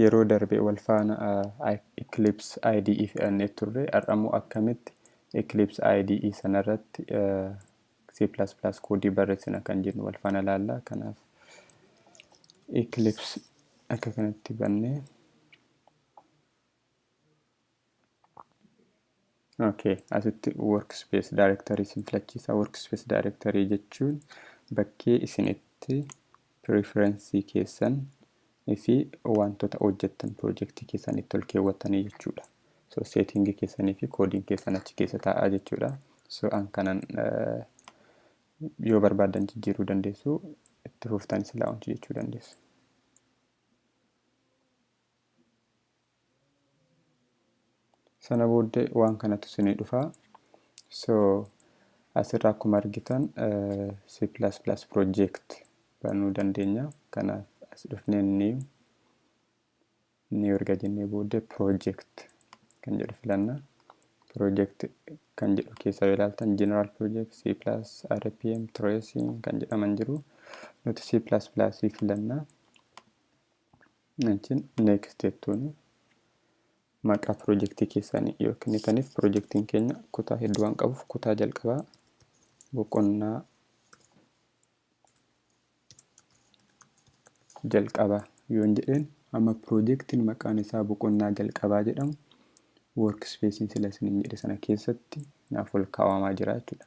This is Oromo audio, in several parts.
Yeroo darbe wal faana Eclipse IDE fe'annee turre. Har'a immoo akkamitti Eclipse IDE sana irratti C++ koodii barreessina kan jennu wal faana ilaalla. Kanaaf Eclipse akka kanatti bannee Okay, asitti workspace directory isin filachiisa. Workspace directory jechuun bakkee isin itti preferensii keessan fi wantoota hojjettan pirojektii keessan itti ol keewwattanii jechuudha. So setting keessanii fi koodiin keessan achi keessa taa'aa jechuudha. So an kanan eh, yoo barbaadan jijjiiruu dandeessu itti fuftanii silaa hojii jechuu dandeessu. sana booddee waan kanatu isinii dhufa so asirra akkuma argitan c plus plus project banuu dandeenya kanaaf as dhufnee new new erga jennee booddee project kan jedhu filanna project kan jedhu keessa yoo ilaaltan general project c plus rpm tracing kan jedhaman jiru nuti c plus plus filanna Achiin next jettuun maqaa pirojektii keessanii yoo kennitaniif pirojektiin keenya kutaa hedduu waan qabuuf kutaa jalqabaa boqonnaa jalqabaa yoon jedheen amma pirojektiin maqaan isaa boqonnaa jalqabaa jedhamu workspacein sila isiniin jedhe sana keessatti naaf ol kaa'amaa jira jechuudha.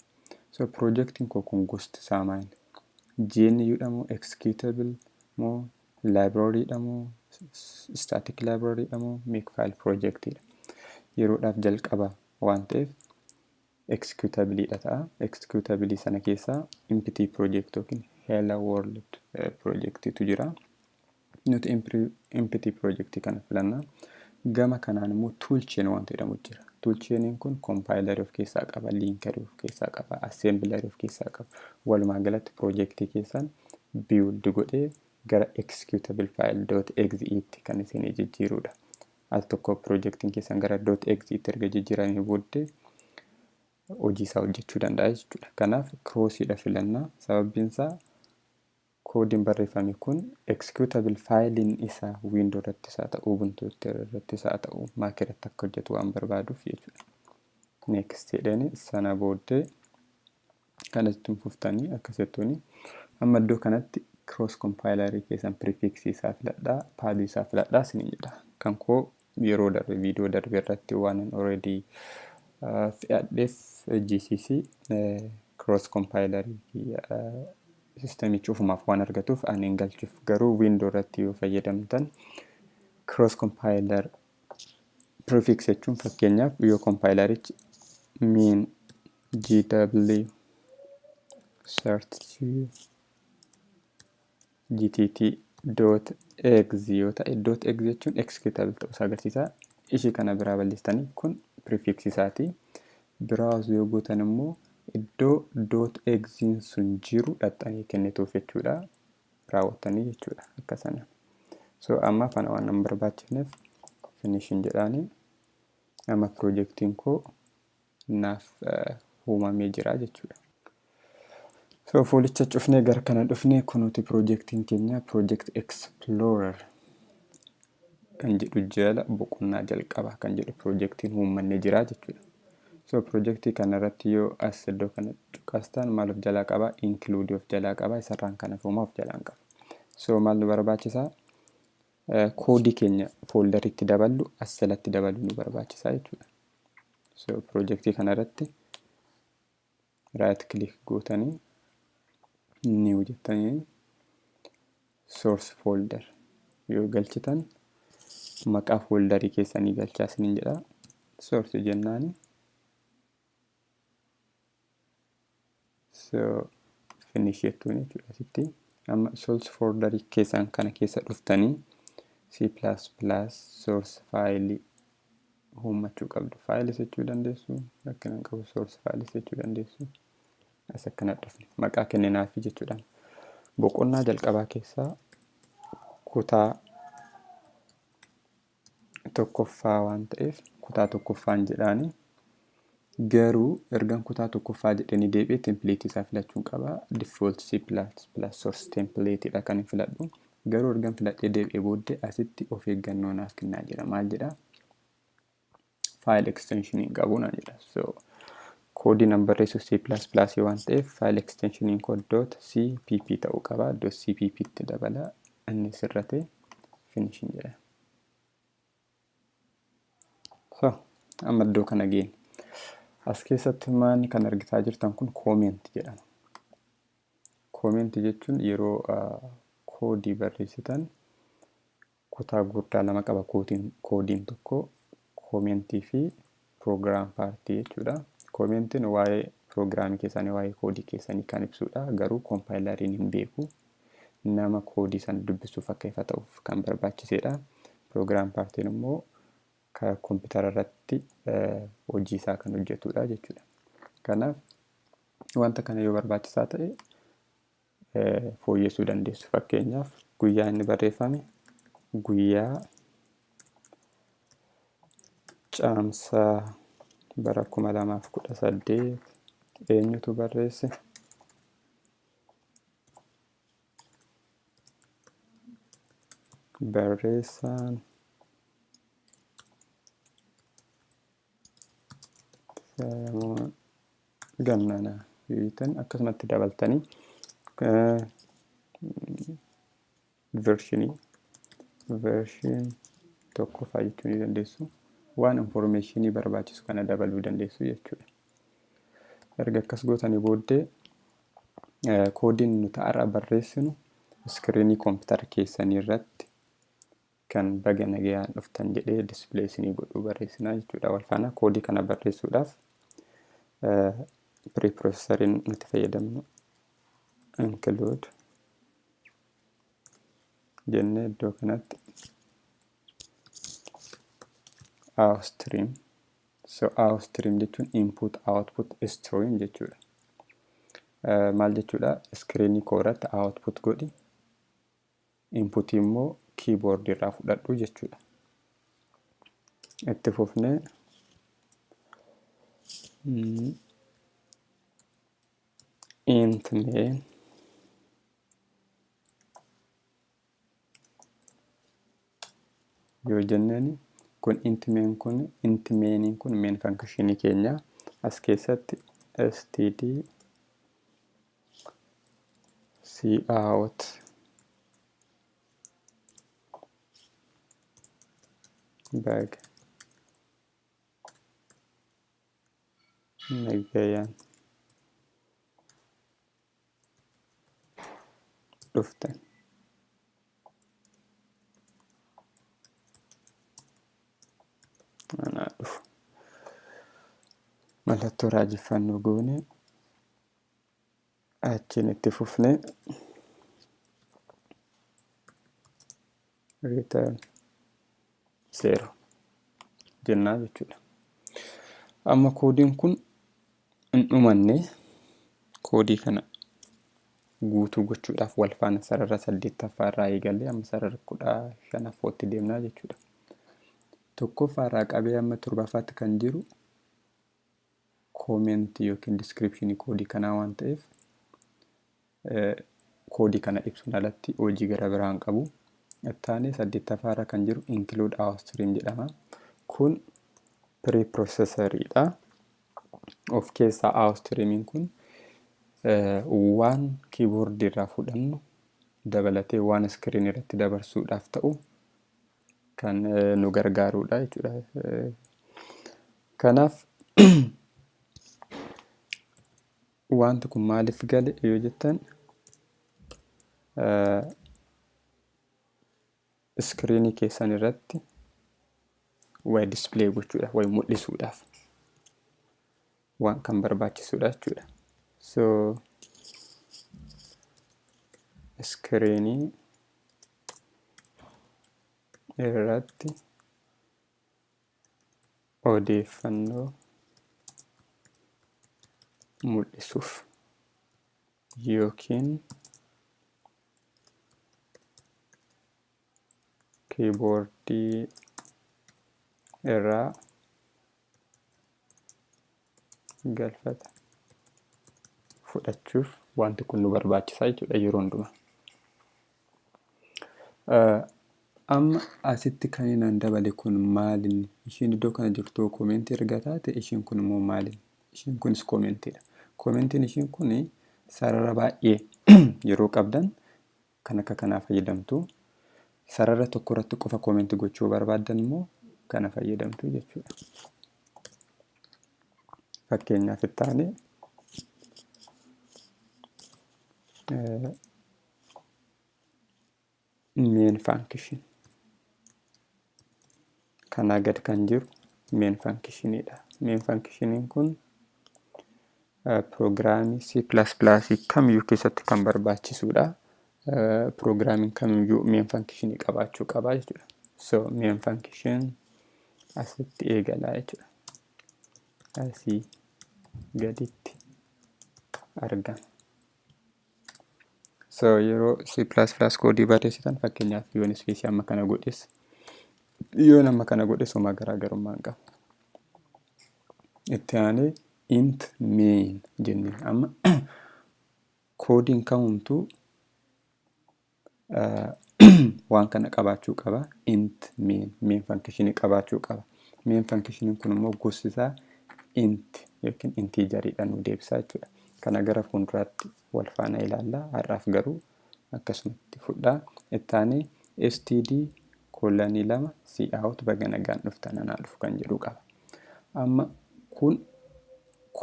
So pirojektiin koo kun gosti isaa maal? GNU dha moo executable moo Library dha moo static library dha moo makefile project dha yeroodhaaf jalqaba waan ta'eef executable dha ta'a executable sana keessaa empty project yookiin hello world project tu jira nuti empty project kana filanna gama kanaan immoo toolchain wanta jedhamu jira toolchainiin kun compiler of keessaa qaba linker of keessaa qaba assembler of keessaa qaba walumaa galatti project keessan build godhee gara executable file dot exe tti kan isinii jijjiiruudha. Al tokko pirojektiin keessan gara dot exe tti erga jijjiiramee booddee hojii isaa hojjechuu danda'a jechuudha. Kanaaf kiroosiidha filannaa sababiin isaa koodiin barreeffame kun executable faayiliin isaa wiindoo irratti isaa ta'u ubuntu irratti isaa ta'u maak irratti akka hojjetu waan barbaaduuf jechuudha. Next jedheen sana booddee Kana ittiin fuftanii akka settuni amma iddoo kanatti cross compilerii keessan prefix isaa filadhaa pad isaa filadhaa isin jedha kan koo yeroo darbe viidiyoo darbe irratti waan an already fe'adheef GCC cross compilerii sistemichi ofumaaf waan argatuuf ani hin galchuuf garuu wiindoo irratti yoo fayyadamtan cross compiler prefix jechuun fakkeenyaaf yoo kompaayilarichi mean gw search gtt dot egs yoo ta'e dot egs jechuun executable ta'uu isaa agarsiisa ishii kana biraa balleessitanii kun prefix isaati browse yoo gootan immoo iddoo dot egsiin sun jiru dhaxxanii kennituuf jechuudha raawwattanii jechuudha akka sana so amma kana waan hin barbaachifneef finishin jedhaanii amma piroojeektiin koo naaf uumamee jira jechuudha. So fuulicha cufnee gara kana dhufnee kunuuti piroojeektiin keenya piroojeekt explorer kan jedhu jala boqonnaa jalqabaa kan jedhu piroojeektiin uummanni jira jechuudha. So piroojeektii kanarratti yoo as iddoo kana cuqastaan maal of jalaa qaba? Include of jalaa qaba. Isarraan kan hafuumaa of jalaan qaba. So maal nu barbaachisaa? Koodii keenya fooldaritti daballu as jalatti dabaluu nu barbaachisaa jechuudha. So piroojeektii kanarratti right click gootanii new jettanii source folder yoo galchitan maqaa foldarii keessanii galchaa isiniin jedha source jennaani so finish jettuun jechuudha asitti amma source folder keessan kana keessa dhuftanii c++ source file uummachuu qabdu files jechuu dandeessu rakkina hin qabu source files jechuu dandeessu as akkana dhufne maqaa kenninaafii jechuudhaan boqonnaa jalqabaa keessaa kutaa tokkoffaa waan ta'eef kutaa tokkoffaan jedhaanii Garuu ergan kutaa tokkoffaa jedhanii deebi'e template isaa filachuun qaba. Default C++ source template dha kan filadhu. Garuu ergan filadhee deebi'e booddee asitti of eeggannoo naaf kennaa jira. Maal jedha? File extension hin qabu naan jedha. So koodii nan barreessu C++ waan ta'eef file extensioniin koo .cpp ta'uu qaba. .cpp itti dabala. Inni sirratee finish hin jedha. So, amma iddoo kana geenya. As keessatti maanni kan argitaa jirtan kun koomenti jedhama. Koomenti jechuun yeroo koodii barreessitan kutaa guddaa lama qaba koodiin tokko koomentii fi program party jechuudha. Koomeentiin waa'ee program keessanii waa'ee koodii keessanii kan ibsuudha. Garuu koompaayilariin hin beeku. Nama koodii sana dubbisuuf akka ifa ta'uuf kan barbaachiseedha. Program partiin immoo ka koompitara irratti hojii isaa kan hojjetudha jechuudha. Kanaaf wanta kana yoo barbaachisaa ta'e fooyyessuu dandeessu. Fakkeenyaaf guyyaa inni barreeffame guyyaa caamsaa bara 2018 eenyutu barreesse? Barreessaan gannana yoitan akkasumatti dabaltanii vershinii vershin tokko faa jechuu ni dandeessu waan informeeshinii barbaachisu kana dabaluu dandeessu jechuudha erga akkas gootanii booddee koodiin nuti har'a barreessinu iskiriinii koompitara keessanii irratti kan baga nagayaan dhuftan jedhee display isinii godhuu barreessinaa jechuudha wal faana koodii kana barreessuudhaaf preprocessoriin nuti fayyadamnu include jennee iddoo kanatti our stream so our stream jechuun input output stream jechuudha maal jechuudha iskiriinii koo irratti output godhi input immoo keyboard irraa fudhadhu jechuudha. Itti fufnee mm, int main yoo jenneen kun int main kun int mainin kun main function keenya as keessatti std sii dhaawat bag nagayan dhuftan anaa dhufu mallattoo raajeffannoo goone achiin itti fufne return zero jennaa jechuudha. Amma koodiin kun hin dhumanne koodii kana guutuu gochuudhaaf wal faana sarara saddeettaffaa irraa eegalee amma sarara kudha shanaffootti deemnaa jechuudha. Tokkoffaa irraa qabee amma torbaffaatti kan jiru koomentii yookiin diskiripshinii koodii kanaa waan ta'eef koodii kana ibsuun alatti hojii gara biraa hin qabu. Ittaanee saddeettaffaa irra kan jiru include our stream jedhama. Kun preprocessor dha. Of keessaa our streamiin kun waan kiiboordii irraa fudhannu dabalatee waan iskiriin irratti dabarsuudhaaf ta'u kan nu gargaaruudha jechuudha. Kanaaf wanti kun maaliif gale yoo jettan iskiriinii keessan irratti way dispilay gochuudhaaf way mul'isuudhaaf waan kan barbaachisuudha jechuudha. So iskiriinii irratti odeeffannoo mul'isuuf yookiin kiiboordii irraa galfata fudhachuuf wanti kun nu barbaachisaa jechuudha yeroo hundumaa. Amma asitti kan inaan dabale kun maalin isheen iddoo kana jirtu koomeentii erga taate isheen kun immoo maalin isheen kunis koomentiidha. Koomentiin isheen kun sarara baay'ee yeroo qabdan kan akka kanaa fayyadamtu. Sarara tokko irratti qofa comment gochuu barbaaddan immoo kana fayyadamtu jechuudha. Fakkeenyaaf itti aanee main function kanaa gad kan jiru meen fankishiniidha. Meen fankishiniin kun piroogiraamii C++ kamiyyuu keessatti kan barbaachisuudha. Piroogiraamiin kamiyyuu meen fankishinii qabaachuu qaba jechuudha. So meen fankishin asitti eegalaa jechuudha. Asii gaditti argama. So yeroo C++ koodii barreessitan fakkeenyaaf yoon ispeesii amma kana godhes yoon amma kana godhes homaa garaagarummaa hin qabu. Itti aanee int main jennee amma koodiin kamumtuu waan kana qabaachuu qaba int main main function qabaachuu qaba main function kun immoo gosti isaa int yookiin intiijariidha nu deebisaa jechuudha kana gara fuulduraatti wal faana ilaalla har'aaf garuu akkasumatti fudhaa ittaanee std kolanii lama si out baga nagaan dhuftan anaa dhufu kan jedhu qaba amma kun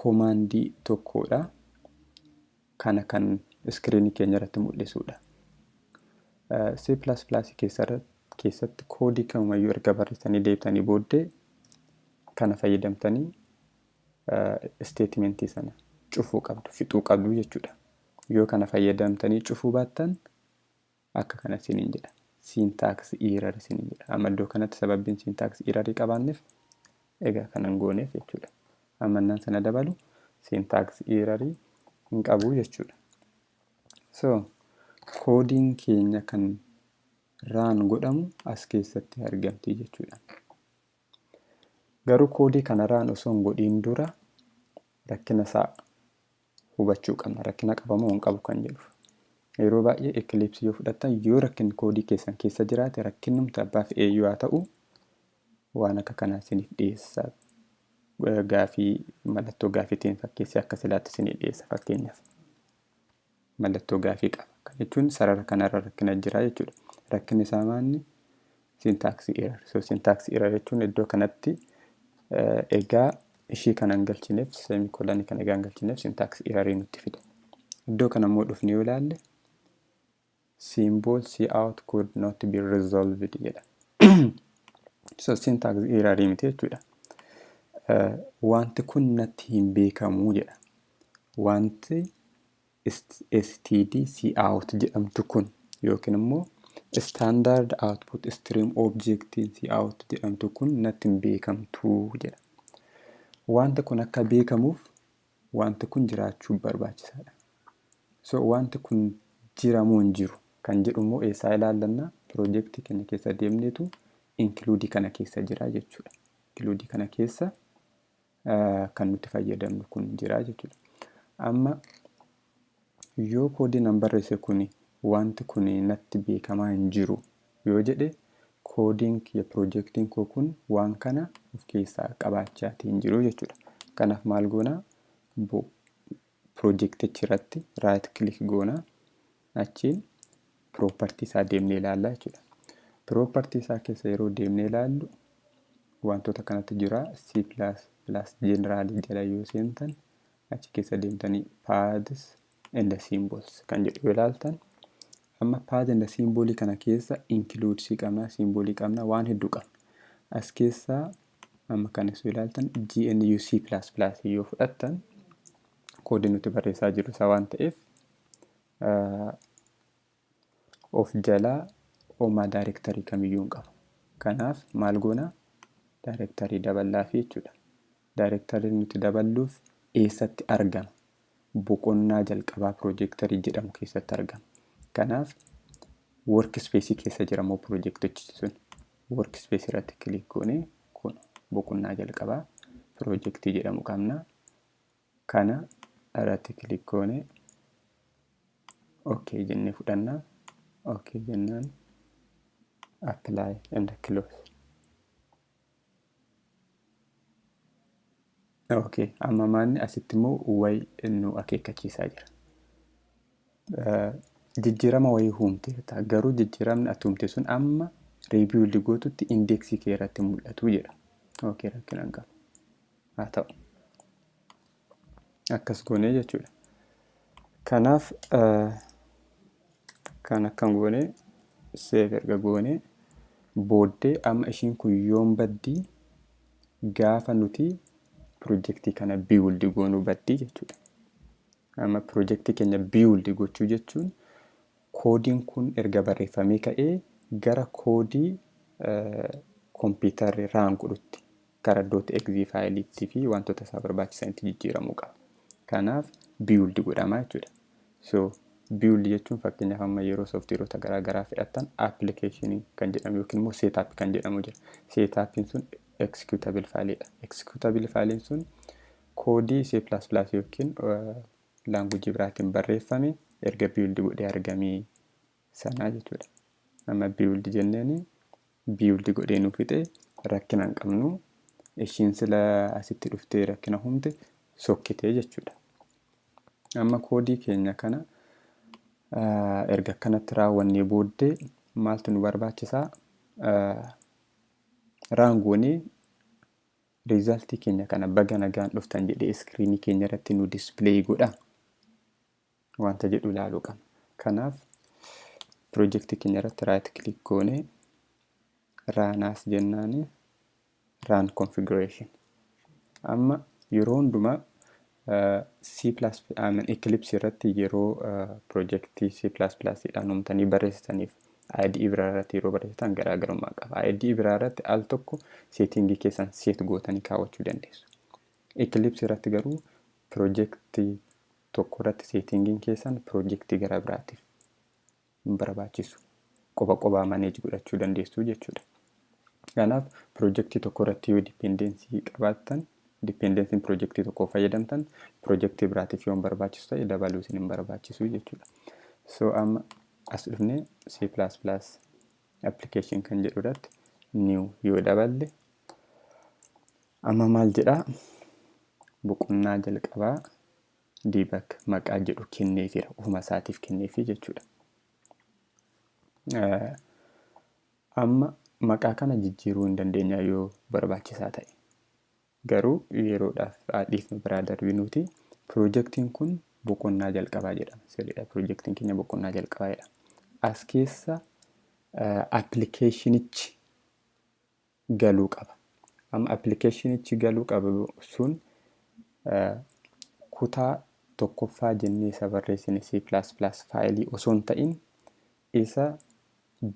komaandii tokkodha kana kan iskiriinii keenya irratti mul'isuudha. C++ keessatti koodii kamumayyuu erga barreessanii deebitanii booddee kana fayyadamtanii isteetimentii sana cufuu qabdu, fixuu qabdu jechuudha. Yoo kana fayyadamtanii cufuu baattan akka kana isiniin jedha. Syntax error isiniin jedha. Amma iddoo kanatti sababbiin syntax error qabaanneef egaa kanan gooneef jechuudha. Amma innaan sana dabalu syntax error hin qabu jechuudha. So koodiin keenya kan raan godhamu as keessatti argamti jechuudha. Garuu koodii kana raan osoo hin godhiin dura rakkina isaa hubachuu qabna rakkina qaba moo hin qabu kan jedhuuf. Yeroo baay'ee Eclipse yoo fudhattan yoo rakkinni koodii keessan keessa jiraate rakkinnumti abbaa fe'eeyyuu haa ta'u waan akka kanaa isiniif dhiyeessa. Gaafii mallattoo gaafiitiin fakkeessee akka silaatti isinii dhiyeessa fakkeenyaaf. Mallattoo gaafii qaba. Kan jechuun sarara kanarra rakkina jira jechuudha. Rakkinni isaa maanni syntax error so syntax error jechuun iddoo kanatti egaa ishii kana hin galchineef semikolanii kana egaa hin galchineef syntax error nutti fida iddoo kana immoo dhufnee yoo ilaalle symbol c out could not be resolved jedha so syntax error miti jechuudha wanti kun natti hin beekamuu jedha wanti std cout jedhamtu kun yookiin immoo standard output stream objectiin cout jedhamtu kun natti hin beekamtuu jedha. Wanti kun akka beekamuuf wanti kun jiraachuu barbaachisaadha. So wanti kun jiramoo hin jiru kan jedhu immoo eessaa ilaallanna piroojeektii keenya keessa deemneetu inkluudii kana keessa jira jechuudha. Inkluudii kana keessa kan nuti fayyadamnu kun jira jechuudha. Amma yoo koodii nan barreesse kun wanti kun natti beekamaa hin jiru yoo jedhe koodiin kiyya piroojeektiin koo kun waan kana of keessaa qabaachaa hin jiru jechuudha. Kanaaf maal goonaa piroojektichirratti raayit kilik goona. Achiin piroopartii isaa deemnee ilaalla jechuudha. Piroopartii isaa keessa yeroo deemnee ilaallu wantoota kanatu jira. C++ General jala yoo seentan achi keessa deemtanii paths and symbols kan jedhu yoo ilaaltan amma path and symbol kana keessa includes qabna, symbol qabna, waan hedduu qabna. As keessaa Amma kan isu ilaaltan GNU C++ yoo fudhattan koodii nuti barreessaa jirru isaa waan ta'eef of jalaa homaa daayirektarii kamiyyuu hin qabu. Kanaaf maal goona daayirektarii daballaafi jechuudha. Daayirektariin nuti daballuuf eessatti argama boqonnaa jalqabaa pirojektarii jedhamu keessatti argama. Kanaaf workspace keessa jira immoo pirojektichi sun. Workspace irratti kilik goone kun boqonnaa jalqabaa pirojektii jedhamu qabna. Kana irratti kilik goone ok jennee fudhanna. Ok jennaan apply and close. Okay. Amma maanni asitti immoo way nu akeekkachiisaa jira. Eh, Jijjiirama wayii huumteerta. Garuu jijjiiramni ati huumte sun amma riibiwuldi gootutti indeeksii kee irratti mul'atu jedha. Okay, rakkina hin qabu. Haa ta'u. akkas goonee jechuudha. Kanaaf kan akkan goonee seef erga goonee booddee amma ishiin kun yoon baddii gaafa nuti pirojektii kana biiwuldi goonuu baddii jechuudha. Amma pirojektii keenya biiwuldi gochuu jechuun koodiin kun erga barreeffamee ka'ee gara koodii kompiitarri raan godhutti gara dot exe faayiliitti fi wantoota isaa barbaachisanitti jijjiiramuu qaba. Kanaaf build godhama jechuudha. So build jechuun fakkeenyaaf amma yeroo sooftiweerota garaa garaa fedhattan application kan jedhamu yookiin immoo setup kan jedhamu jira. Setupiin sun executable faayiliidha. Executable faayiliin sun koodii C++ yookiin laanguujii biraatiin barreeffame erga build godhee argamee sanaa jechuudha. Amma build jenneeni build godhee nu fixe rakkina hin qabnu. Ishiin sila asitti dhuftee rakkina humte sokkitee jechuudha. Amma koodii keenya kana erga akkanatti raawwannee booddee maaltu nu barbaachisaa? Raangoonee riizaaltii keenya kana baga nagaan dhuftan jedhee iskiriinii keenya irratti nu dispilay godha. wanta jedhu ilaaluu qabna. Kanaaf pirojektii keenya irratti right click goone run as jennaan run configuration. Amma yeroo hundumaa eh, C++ I mean Eclipse irratti yeroo eh, pirojektii C++ dhaan uumtanii barreessitaniif IDE biraa irratti yeroo barreessitan garaagarummaa qaba. IDE biraa irratti al tokko seetingii keessan seet gootanii kaawwachuu dandeessu. Eclipse irratti garuu pirojektii tokko irratti seetingiin keessan pirojektii gara biraatiif hin barbaachisu. Qoba qobaa maneej godhachuu dandeessu jechuudha. Kanaaf pirojektii tokko irratti yoo dipendeensii qabaattan dipendensiin pirojektii tokko fayyadamtan pirojektii biraatiif yoo hin barbaachisu ta'e dabaluu isin hin barbaachisu jechuudha. So amma as dhufnee C++ application kan jedhu irratti new yoo daballe amma maal jedhaa boqonnaa jalqabaa dbak maqaa jedhu kenneefiira ofuma isaatiif kenneefi jechuudha. Amma maqaa kana jijjiiruu hin dandeenya yoo barbaachisaa ta'e. Garuu yeroodhaaf dhiifnu biraa darbinuuti piroojeektiin kun boqonnaa jalqabaa jedhama. Sirriidha piroojeektiin keenya boqonnaa jalqabaa jedhama. As keessa appilikeeshinichi galuu qaba. Amma appilikeeshinichi galuu qabu sun kutaa tokkoffaa jennee isa barreessine C++ faayilii osoo hin ta'in isa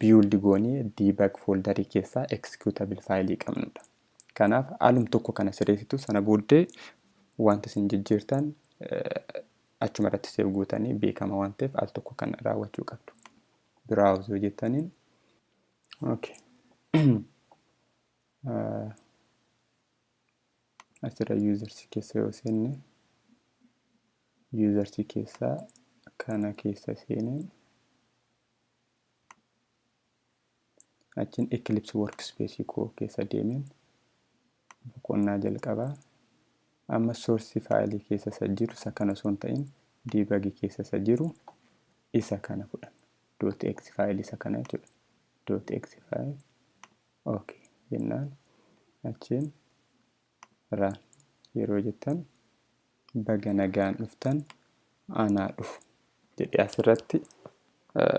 build goonee debug foldarii keessaa executable faayilii qabnudha. Kanaaf alum tokko kana sirreessitu sana booddee wanta isin jijjiirtan achuma irratti seef gootanii beekama waan ta'eef al tokko kana raawwachuu qabdu. Browse yoo jettaniin Okay. Ah, Asirra users keessa yoo seenne users keessa kana keessa seenee achiin Eclipse workspace koo keessa deemeen boqonnaa jalqabaa amma source file keessa isa jiru isa kana osoo hin ta'in debug keessa isa jiru isa kana fudhanna dot x file isa kana jechuudha dot x file ok jennaan achiin run yeroo jettan baga nagaan dhuftan anaa dhufu jedhee asirratti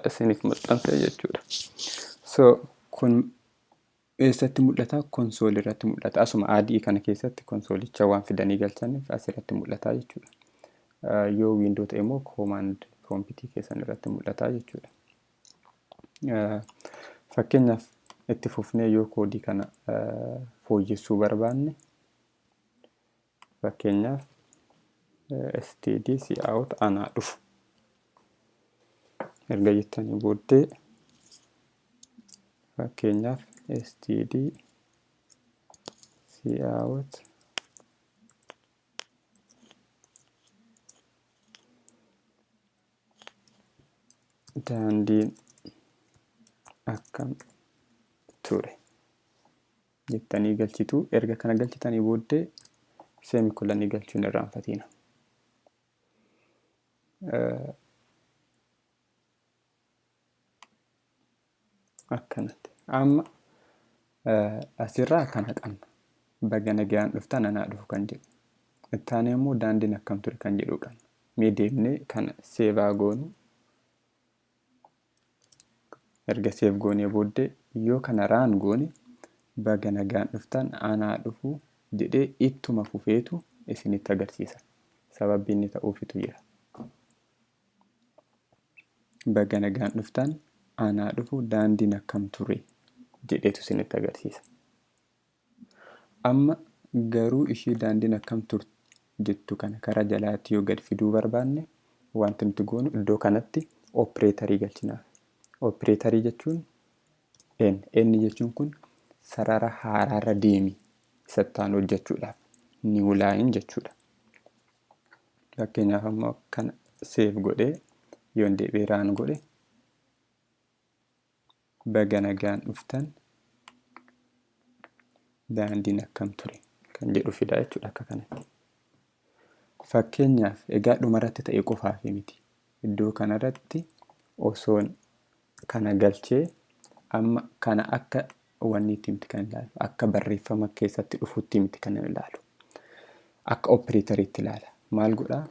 isiniif maxxansa jechuudha so kun Eessatti mul'ata? Konsoolii irratti mul'ata. Asuma ADE kana keessatti konsoolicha waan fidanii galchaniif asirratti mul'ata jechuudha. Yoo wiindoo ta'e immoo koomaand piroompitii keessan irratti mul'ata jechuudha. Fakkeenyaaf itti fufnee yoo koodii kana fooyyessuu barbaanne Fakkeenyaaf std cout anaa dhufu erga jettanii booddee fakkeenyaaf std cout daandiin akkam ture jettanii galchitu. Erga kana galchitanii booddee seemikolanii galchuun irraanfatiina. Akkanatti. Amma asirraa kana qabna. Baga nagaan dhuftan anaa dhufu kan jedhu. Itti aanee immoo daandiin akkam ture kan jedhu qabna. Mee deemnee kana seevaa goonu erga seef goonee booddee yoo kana raan goone baga nagaan dhuftan anaa dhufu jedhee ittuma fufeetu isinitti agarsiisa sababbi inni ta'uufitu jira baga nagaan dhuftan anaa dhufu daandiin akkam ture jedheetu isinitti agarsiisa Amma garuu ishii daandiin akkam turti jettu kana karaa jalaatti yoo gad fiduu barbaanne wanti nuti goonu iddoo kanatti opireetarii galchinaaf. Opireetarii jechuun n n jechuun kun sarara haaraarra deemi isattaan hojjechuudhaaf new line jechuudha. Fakkeenyaaf ammoo kana seef godhee yoon deebi'ee raan godhe baga nagaan dhuftan daandiin akkam ture kan jedhu fidaa jechuudha akka kanatti. Fakkeenyaaf egaa dhumarratti ta'e qofaaf miti. Iddoo kanarratti osoon kana galchee amma kana akka wanni itti miti kan ilaalu. Akka barreeffama keessatti dhufutti miti kan ilaalu. Akka opereetariitti ilaala. Maal godhaa?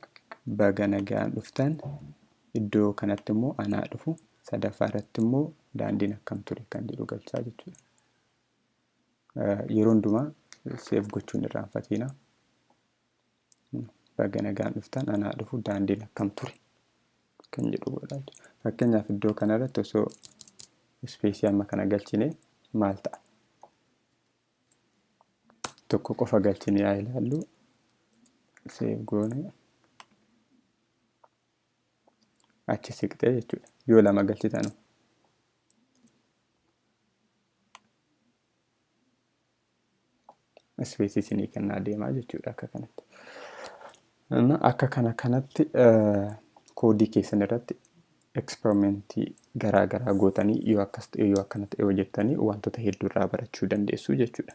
Baga nagaan dhuftan. Iddoo kanatti immoo anaa dhufu. Sadaffaa irratti immoo daandiin akkam ture kan jedhu galchaa jechuudha. Yeroo hundumaa seef gochuun irraanfatiina. Baga nagaan dhuftan anaa dhufu daandiin akkam ture kan jedhu godhaa jechuudha. Fakkeenyaaf iddoo kanarratti osoo ispeesii amma kana galchine maal ta'a? Tokko qofa galchine yaa ilaallu seef goone achi siqxee jechuudha. Yoo lama galchitan ispeesii isinii kennaa deemaa jechuudha akka kanatti. Akka kana kanatti koodii keessan irratti eksperimentii garaa garaa gootanii yoo akkas ta'e yoo akkanatti yoo jettanii wantoota hedduu irraa barachuu dandeessu jechuudha.